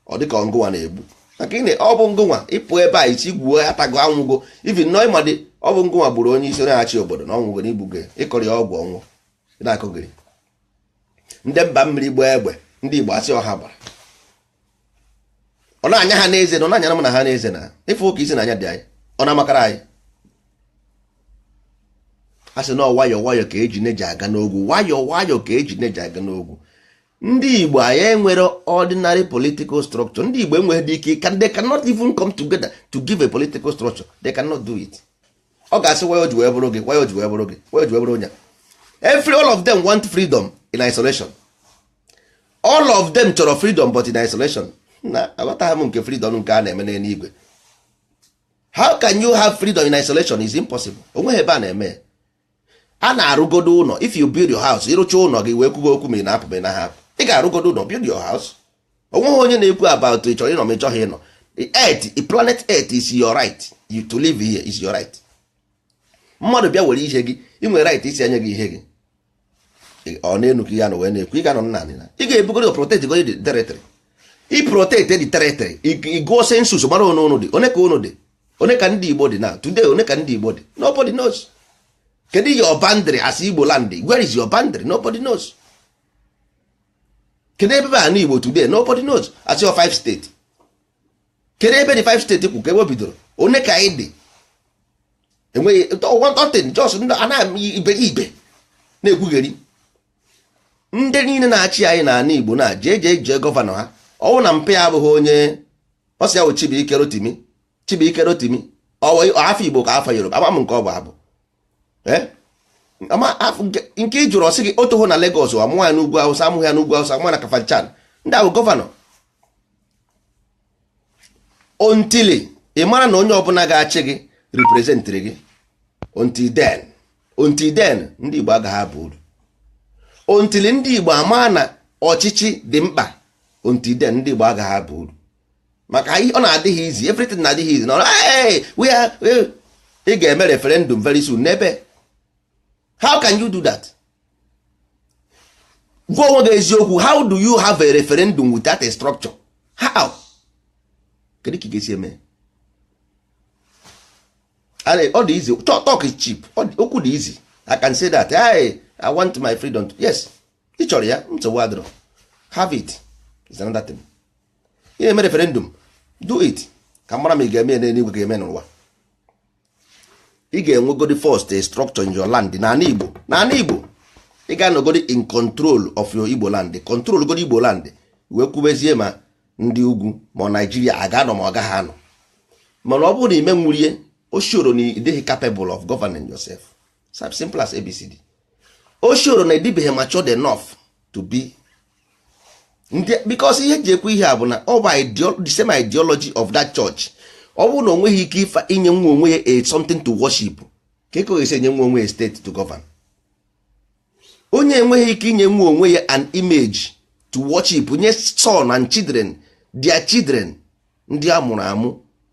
ọ dị ka ngụnwa na-egbu maka na ọ bụ ngụnwa ị pụ ebe a ị sị gbuo ya tago anwụgo even nọ ị madị ọ bụ ngụnwa gburu onye isi na-achị obodo na ọ nwụgo na i gbugo ị kọrọ ya ọgwụ ọ nwụọ na-akọgheri ndị mba mmiri gbaa egbe ndị igbo asị ọ ha gbara ọ na-anya ha n'eze na ọ na-anyara m na ha n'eze na ife ụka isi na anya dị anyị ọ na-amakara anyị a sị na nwayọọ nwayọọ ka eji neji aga n'ogwu nwayọọ nwayọọ ka eji neji aga n'ogwu ndị igbo anyị enwere ordinary political structure ndị igbo enweghịdị ike they cannot even come together to give a political structure they cannot do it ọ ga-asị why o ji wee bụrụ gị why o ji wee bụrụ gị why o ji wee bụrụ onye every all of them want freedom in isolation all of them chọrọ freedom but in isolation na aghọtaghị m nke freedom nke a na-eme n'eluigwe how can you have freedom in isolation is impossible onweghị ebe a na-eme a na-arụgodo ụlọ if you build your house ị rụcha ụlọ gị wee kwugo okwu ma ị na-apụ ma ị naghị apụ ị ga-arụgodo ụlọ build your house onweghị onye na-ekwu about ị chọrọ ịnọ ma ị chọghị ịnọ the planet earth is your right you to live here is your right mmadụ bịa were ihe gị ị nwere right ịsị ya nye gị ihe gị ọ n'enu ka ị ya-anọ wee na-ekwu ị ga-anọ n'ani na ị ga-ebugodo protect godi territory ị protect the territory ị gụọ census mara one ụnụ dị one ka ụnụ dị one ka ndị Igbo dị na today one ka ndị Igbo dị nobody knows kedu your boundary as Igbo land where is your boundary nobody knows kedu ebe bụ ani Igbo today nobody knows as your five state kedu ebe the five state kwụ ka ebe o bidoro one ka anyị dị enweghị nothing just anaghị ibe ibe na-ekwugheri ndị niile na-achị anyị n'ala Igbo na jee jee jee gọvanọ ha ọ wụ na mpe abụghị onye ọ sị ya bụ Chibuike Rotimi Chibuike Rotimi afa Igbo ka afa Yoruba ama m nke ọ bụ abụ eh? nke ị jụrụ ọ sị gị o toro na Lagos a mụọ ya n'ugwu Awụsa a mụghị ya n'ugwu Awụsa a mụọ na Kafanchan ndị ahụ gọvanọ until ị mara na onye ọbụla ga-achị gị representịrị gị until then until then ndị Igbo agaghị aba uru until ndị Igbo ama na ọchịchị dị mkpa until then ndị Igbo agaghị aba uru maka ọ na-adị gị easy everything na-adị gị easy na ị ga-eme referendum very soon n'ebe how can you do that gwa onwe gị eziokwu how do you have a referendum without a structure how kedu ka ị ga-esi eme ọ dị easy talk is cheap okwu dị easy i can say that hey, i want my freedom yes ị chọrọ ya nsogbu adịrọ have it is another thing ị na-eme referendum do it ka mara ma ị ga-eme ya n'eluigwe ga-eme n'ụwa ị ga-enwegodi first a structure in your land n'ala Igbo n'ala Igbo ị ga-anọgodi in control of your Igbo land control godi Igbo land wee kwubezie ma ndị ugwu ma Nigeria a ga-anọ ma ọ gaghị anọ mana ọ bụrụ na i menwurọ ya o shoro na ị dịghị capable of governing yourself As simple as ABCD. O shoro na ị dịbeghị matured enough to be because ihe ji ekwu ihe a bụ na ọ bụ the same ideology of that church ọ bụrụ na o nweghị ike ife inyenwu onwe ya a something to worship kee ka ọ ga-esi enyenwu onwe ya state to govern onye enweghị ike inyenwu onwe ya an image to worship nye son and children their children ndị a mụrụ amụ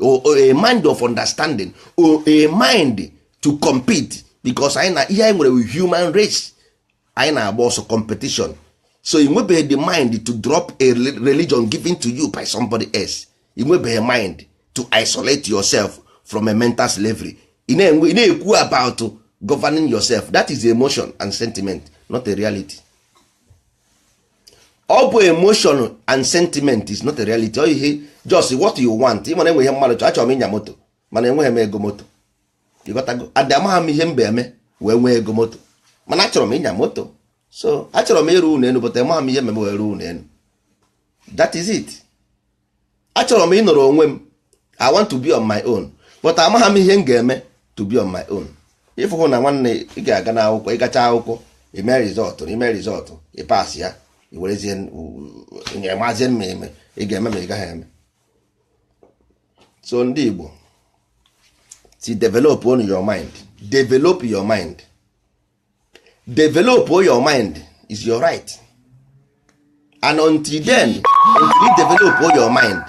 a mind of understanding or a mind to compete because anyị na ihe anyị nwere human race anyị na-agba ọsọ competition so ị nwebeghị the mind to drop a religion given to you by somebody else ị nwebeghị mind to isolate yourself from a mental slavery ị na-ekwu about governing yourself that is emotion and sentiment not a reality ọ bụ emotion and sentiment is not a reality ọ ihe just what you want ị ma na e nwe ihe mmadụ chọ achọrọ m ịnya moto mana enweghị m ego moto ị ghọtago and amaghị m ihe m ga-eme wee nwee ego moto mana achọrọ m ịnya moto so achọrọ m ịrụ ụlọ elu but amaghị m ihe m ga-eme wee rụọ ụlọ elu that is it achọrọ m ịnọrọ onwe m i want to be on my own but amaghị m ihe m ga-eme to be on my own ị fụhụ na nwanne ị ga-aga n'akwụkwọ ị gacha akwụkwọ i mee result i mee result ị pass ya i werezie ya mazie ma eme ị ga-eme ma ị gaghị eme so ndị Igbo si develop on your mind develop your mind develop your mind is your right and until then until you develop your mind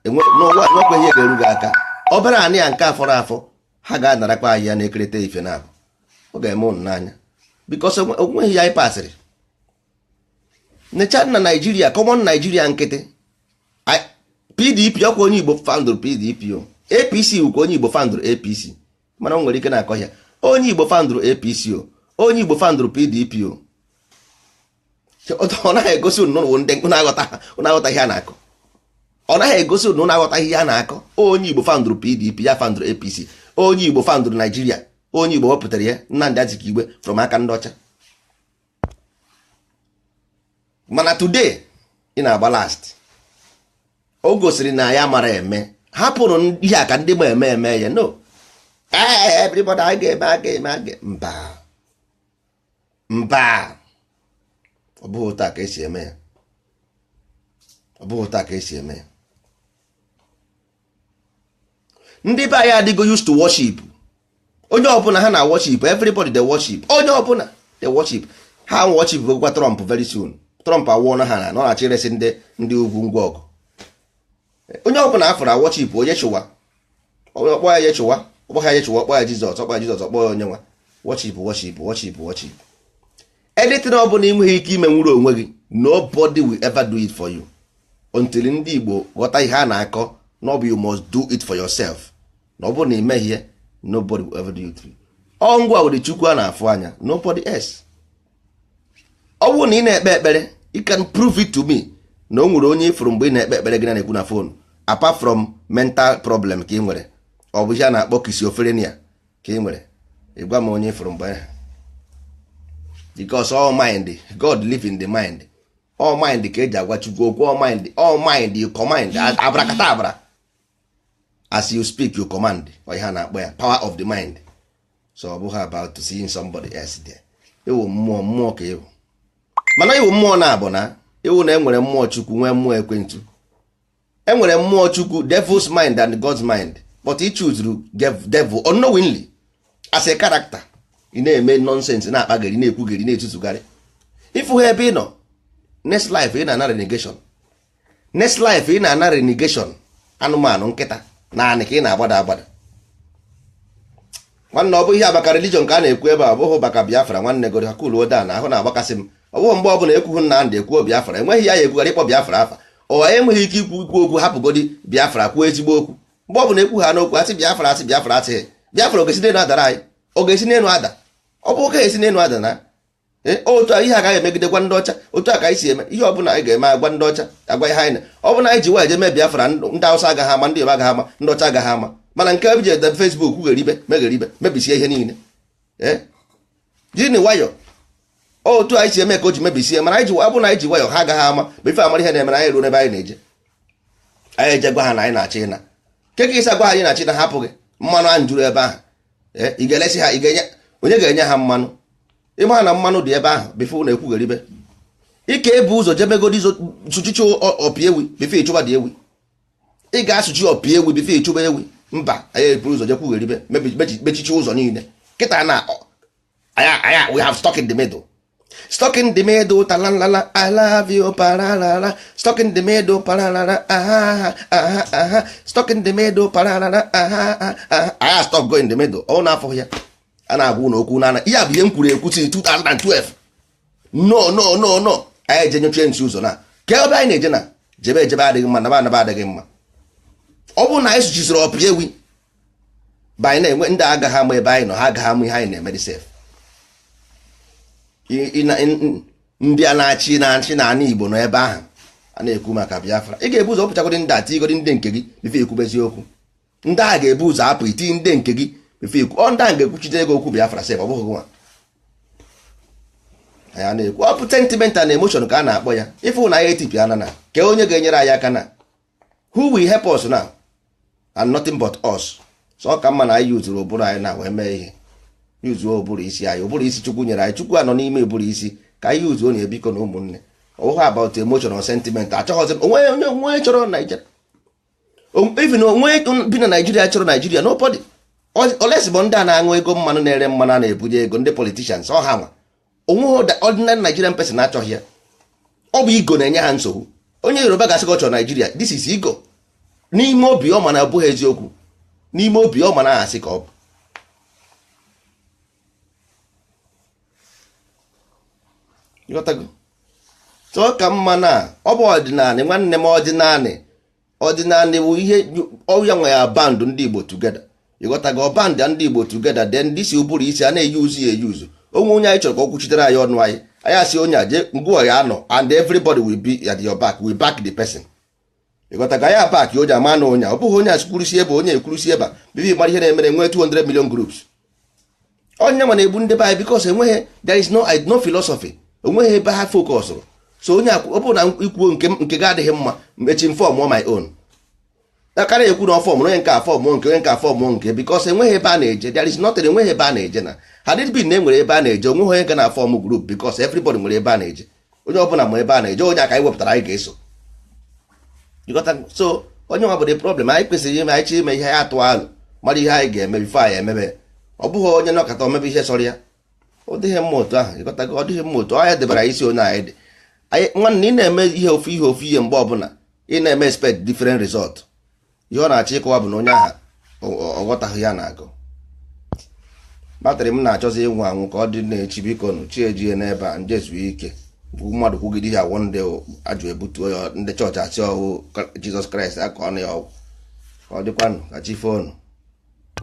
nwekwa ihe ga-eru gị aka obere anị ya nke afọrọ afọ ha ga-anarakwa ya na-ekerịta ife na-akọ ọ ga-eme ụnụ n'anya because o nweghị ihe anyị pasịrị necha na Nigeria common Nigeria nkịtị pdp ọkwa onye igbo foundụrụ pdp o apc wụkwa onye igbo foundụrụ apc mana o nwere ike na-akọ ya onye igbo foundụrụ apc o onye igbo foundụrụ pdp o ọ naghị egosi unu unu aghọta ihe a na-akọ ọ naghị egosi unu unu aghọta ihe a na-akọ onye igbo foundụrụ pdp ya foundụrụ apc onye igbo foundụrụ Nigeria onye igbo wepụtara ya Nnamdi Azikiwe from aka ndị ọcha mana today ị na-agba last o gosiri na ya mara eme hapụrụ ihe a ka ndị ma eme mee ya no ee everybody a ga-eme a ga-eme a ga mba mba ọ bụghị otu a ka esi eme ya ọ bụghị otu a ka esi eme ya ndị be anyị adịgo used to worship onye ọbụla ha na-worship everybody dey worship onye ọbụla dey worship ha worshipgokwa Trump very soon Trump agwana ha na ọ na-achọ iresi ndị ndị ugwu ngwa ọgụ onye ọbụla a fụrụ a worship Yeshua ọ kpọ Yeshua ọ kpọ ha Yeshua ọ kpọ ya Jizọs ọ kpọ ya Jizọs ọ kpọ ya onye nwa worship worship worship worship anything ọ bụla inweghị ike imenwuru onwe gị nobody will ever do it for you until ndị Igbo ghọta ihe a na-akọ na ọ bụ you must do it for yourself na ọ bụrụ na imeghị ya nobody will ever do it for you ọ ngịwa wụrụ Chukwu a na-afụ anya nobody else ọ bụrụ na ị na-ekpe ekpere you can prove it to me na o nwere onye ị fụrụ mgbe ị na-ekpe ekpere gị na-ekwu na phone apart from mental problem ka ị nwere ọ bụ ihe a na-akpọ schizophrenia ka ị nwere ị gwa m onye ị fụrụ mgbe ahụ because all mind God live in the mind all mind ka eji agwa Chukwu okwu all mind all mind you command abracadabra as you speak you command ọ ihe a na-akpọ ya power of the mind so ọ bụghị about seeing somebody else there ị wụ mmụọ mmụọ ka ị wụ mana ị wụ mmụọ na-abụ na ị wụ na e nwere mmụọ chukwu nwee mmụọ ekwensu e nwere mmụọ chukwu devil's mind and god's mind but ị chooserụ devil unknowingly as a character ị na-eme nonsense na-akpagheri na-ekwugheri na-ezuzugheri ị fụ ha ebe ị nọ next life ị na-ana reincarnation next life ị na-ana reincarnation anụmanụ nkịta n'anị ka ị na-agbada agbada nwanne ọ bụ ihe maka religion ka a na-ekwu ebe a ọ bụghị maka biafra nwanne gori ha kuluo down ahụ na-agbakasị m ọ bụghị mgbe ọbụla ekwughị nnamdị ekwuo biafra enweghị ya ya ekwugharị ịkpọ biafra afa ụnụ enweghị ike ikwu ikwu okwu hapụgodi biafra kwuo ezigbo okwu mgbe ọ bụla ekwuhana okwu asị biafra asị biafra asị biafra ọ ga-esi n'elu adara anyị ọ ga-esi n'elu ada ọ bụ ọ ga-esi n'elu ada na eh, otu ihe agaghị emegide gwa ndị ọcha otu a ka anyị si eme ihe ọ bụla anyị ga-eme agwa ndị ọcha agwa ihe anyị na ọ bụ na anyị ji nwayọ mee biafra ndị awụsa agaghị ama ndị yoruba agaghị ama ndị ọcha agaghị ama mana nke ebe e ji ede facebook gheribe megheribe mebisie ihe niile eh? jini nwayọ otu anyị si eme ka o ji mebisie mana anyị ji ọ bụ na anyị ji nwayọ ha agaghị ama before a mara ihe na-eme na anyị ruo n'ebe anyị na-eje anyị eje gwa ha na anyị na-achọ ịna kee ka ị si agwa ha anyị na-achọ ịna hapụ gị mmanụ ahụ juru ebe ahụ eh, ị ga-elesi ha onye ga-enye ha mmanụ ị ma na mmanụ dị ebe ahụ before na-ekwugheribe ị ga-ebu ụzọ jebegodi sụchisie ọpi ewi before ị chụbadị ewi ị ga-asụchi ọpi ewi before ị chụba ewi mba anyị eburu ụzọ jee kwugheribe mechisie ụzọ niile kịtaa na anyị a we have stuck in the middle stuck in the middle talalala i love you paralala stuck in the middle paralala aha aha aha stuck in the middle paralala aha aha anyị a-stuck-go in the middle ọ na-afụ ya a na-agwa ụnụ okwu na ihe a bụ ihe m kwuru ekwu since 2012 no no no no anyị eje nọchie n'isi ụzọ na ka ebe anyị na-eje na jebe ejebe adịghị mma naba anaba adịghị mma ọ bụrụ na anyị sụchisiri ọpi ewi by na-enwe ndị agaghị ama ebe anyị nọ ha agaghị ama ihe anyị na-eme dị sef ndị a na-achị na-achị na ala Igbo nọ ebe ahụ a na-ekwu maka Biafra ị ga-ebu ụzọ pụchagodi ndị a tigodi ndị nke gị bifo ekwube eziokwu ndị a ga-ebu ụzọ apụ iti ndị nke gị bifo ekwu ọ ndị a ga-ekwuchite ego okwu Biafra sef ọ bụghị nwa anyị na-ekwu ọ bụ sentimental na emoshon ka a na-akpọ ya ife na ya etipịa na na kee onye ga-enyere anyị aka now who will help us now and nothing but us so ọ ka mma na anyị yuzuru ụbụrụ anyị na wee mee ihe yuzuo ụbụrụ isi anyị ụbụrụ isi chukwu nyere anyị chukwu anọ n'ime ụbụrụ isi ka anyị yuzuo na biko nụ ụmụnne ọ wụghị about emotional sentiment achọghịzi m onwe onye onwe chọrọ naijiria even onwe bi na naijiria chọrọ naijiria nobody unless ọ bụ ndị a na-aṅụ ego mmanụ na-ere mmanụ a na-ebunye ego ndị politicians ọ ha nwa onweghị ordinary Nigerian person achọghị ya ọ bụ ego na-enye ha nsogbu onye Yoruba ga-asị gị ọ chọrọ Naijiria this is ego n'ime obi ọ ma na abụghị eziokwu n'ime obi ọ ma na asị ka ọ bụ so ọ ka mma na ọ bụ ọdịnanị nwanne m ọdịnanị ọdịnanị bụ ihe ọ ya nwa ya band ndị Igbo together ịghọtago band ndị Igbo together then this ụbụrụ isi a na-eyuzu ya eyuzu o nwee onye anyị chọrọ ka ọ kwuchitere anyị ọnụ anyị anyị asị onye a jee ngwa ya anọ and everybody will be at your back we'll back the person ịghọtago anyị a-back onye ama na onye ọ bụghị onye a kwurusi ebe onye ekwurusi ebe a bibi mara ihe na-emere nwee 200 million groups ọ ya nwa na-egbu ndị be anyị because enweghị there is no no philosophy onweghị ebe ha fokọsụrụ so onye ọ bụrụ na ikwuo nke gị adịghị mma echi m fọmụọ my own a ka na-ekwu na ọ fọm onye nke a fọm nke onye nke a fọm nke because enweghị ebe a na-eje there is nothing enweghị ebe a na-eje na had it been na enwere ebe a na-eje onweghị onye ga na-afọm group because everybody nwere ebe a na-eje onye ọbụla ma ebe a na-eje onye a ka anyị wepụtara anyị ga-eso so ọ ya nwa bụ the problem anyị kwesịrị ime anyị chọọ ime ihe anyị atụọ alo mara ihe anyị ga-eme bifo anyị emebe ọ bụghị onye nọkata o mebe ihe sọrọ ya ọ dịghị mma otu ahụ ịghọtago ọ dịghị mma otu ahụ ya debara isi onye anyị dị nwanne ị na-eme ihe ofu ihe ofu ihe mgbe ọbụla ị na-eme expect different result ihe ọ na-achọ ịkọwa bụ na onye ahụ aghọtaghị ihe a na-agụ batrị m na-achọzi ịnwụ anwụ ka ọ dị n'echi biko nụ chi ejie n'ebe a m je zuo ike mmadụ kwugide ihe ọ wụ ndị ajụ ebutuo ya ndị chọọchị asị ọ wụ jizọs kraịst akọọnụ ya ọgwụ ka ọ dịkwanụ ka chi foonu